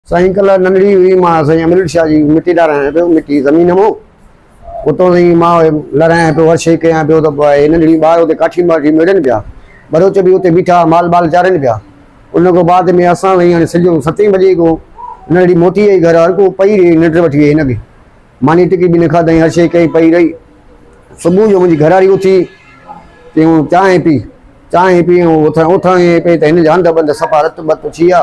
سائين ڪلا ننڍڙي هئي، مان سائين امرليٽ شاهه جي مٽي ڏارايان پيو، مٽي زمين مئو، اتان سائين مان لرايان پيو، هر شيء ڪيان پيو ته پوء هي ننڍڙي ٻار اتي ڪاٺيون ٻاٺيون ميڙين پيا، ٻروچ به اتي بيٺا مال ٻال چارين پيا. ان کان بعد ۾ اسان سائين هاڻي سجو ستين بجي کان ننڍڙي موٽي آئي گهر، هر ڪو پئي رهي ننڊ وٺي ويهي هن به ماني ٽڪي به نه کاڌائين، هر شيء ڪيائين پئي رهي، صبح جو منهنجي گهراڙي اٿي چيائون چانهه پي، چانهه پي، اٿائين اٿائين پئي ته هن جا هنڌ بنڌ صفا رت بت ٿي ويا.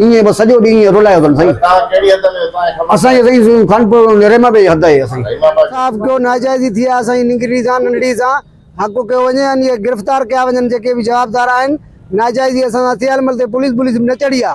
ايئن بس سڄو ڏينهن ايئن رولايو اٿن سائين. توهان ڪهڙي حد ۾ اهو سائين خبر. اسان جي سائين خانپور رحيما بي حد آهي اسان جي. انصاف ڪيو ناجائزي ٿي آ سائين ننگري سان ننڍڙي سان حق ڪيو وڃي ان کي گرفتار ڪيا وڃن جيڪي به جوابدار آهن ناجائزي اسان سان ٿي آ ان مھل تائين پوليس بوليس به نه چڙهي آ.